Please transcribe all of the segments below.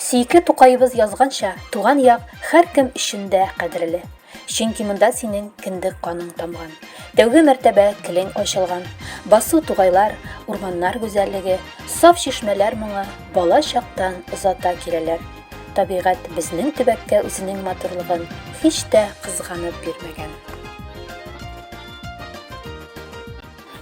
Сөекле Тукаебыз язганча, туган як һәркем өчен дә кадерле. Чөнки монда синең кендек каның тамган. Тәүге мәртәбә телең ачылган. Басу тугайлар, урманнар гүзәллеге, саф чишмәләр моңы бала чактан озата киләләр. Табигать безнең төбәккә үзенең матурлыгын һич тә кызганып бирмәгән.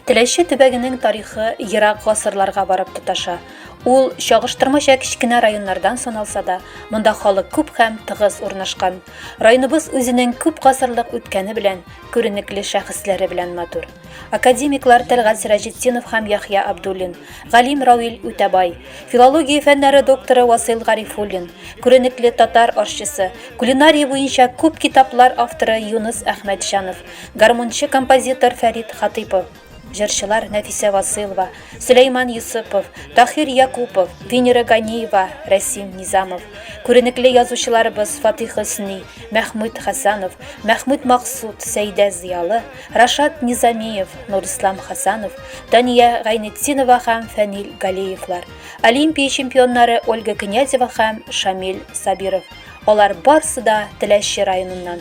Теләче төбәгенең тарихы ерак гасырларга барып тоташа. Ул чагыштырмача кечкенә районнардан саналса да, монда халык күп һәм тыгыз урнашкан. Районыбыз үзенең күп гасырлык үткәне белән, күренекле шәхесләре белән матур. Академиклар Тәлгать Сираҗетдинов һәм Яхья Абдуллин, галим Рауил Үтәбай, филология фәннәре докторы Васил Гарифуллин, күренекле татар арчысы, кулинария буенча күп китаплар авторы Юныс Әхмәтҗанов, Гармунчы композитор Фәрит Хатыйпов, җырчылар Нәфисә Васыйлова, Сөләйман Йосыпов, Тахир Якупов, Венера Ганиева, Рәсим Низамов, күренекле язучыларыбыз Фатих Хөсни, Мәхмүт Хәсанов, Мәхмүт Максут, Сәйдә Зыялы, Рашат Низамиев, Нурислам Хәсанов, Дания Гайнетдинова һәм Фәнил Галиевлар, Олимпия чемпионнары Ольга Князева һәм Шамил Сабиров. Алар барсы да Теләче районыннан.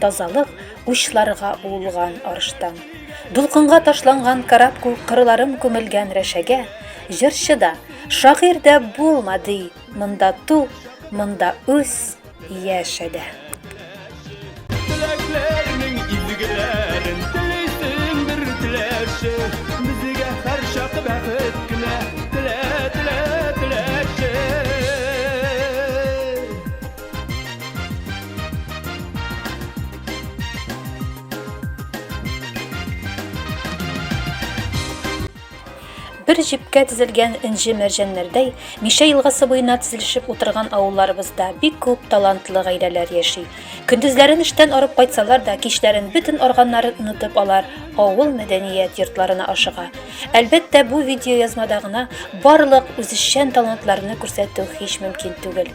Тазалык учларга уылган арыштан. Дулкынга ташланган карап күк кырларым күмелгән рәшәгә, җырчы да, шагыйрь дә булма ди, монда ту, монда үс, яшә дә. Теләкләрнең изгеләрен телисең бер теләче, безгә һәр чак бәхет кенә телә, телә, теләче. Бер җепкә тезелгән энҗе мәрҗәннәрдәй, Мишә елгасы буена тезелешеп утырган авылларыбызда бик күп талантлы гаиләләр яши. Көндезләрен эштән арып кайтсалар да, кичләрен бөтен арганнарын онытып алар авыл мәдәният йортларына ашыга. Әлбәттә, бу видеоязмада гына барлык үзешчән талантларны күрсәтү һич мөмкин түгел.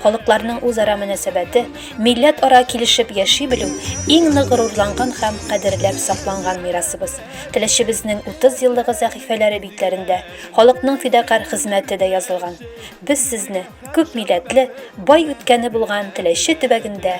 Халыкларның үзара мөнәсәбәте, милләтара килешеп яши белү, иң нык горурланган һәм кадерләп сакланган мирасыбыз. Теләчебезнең 30 еллыгы сәхифәләре битләрендә халыкның фидакарь хезмәте дә язылган. Без сезне күп милләтле, бай үткәне булган Теләче төбәгендә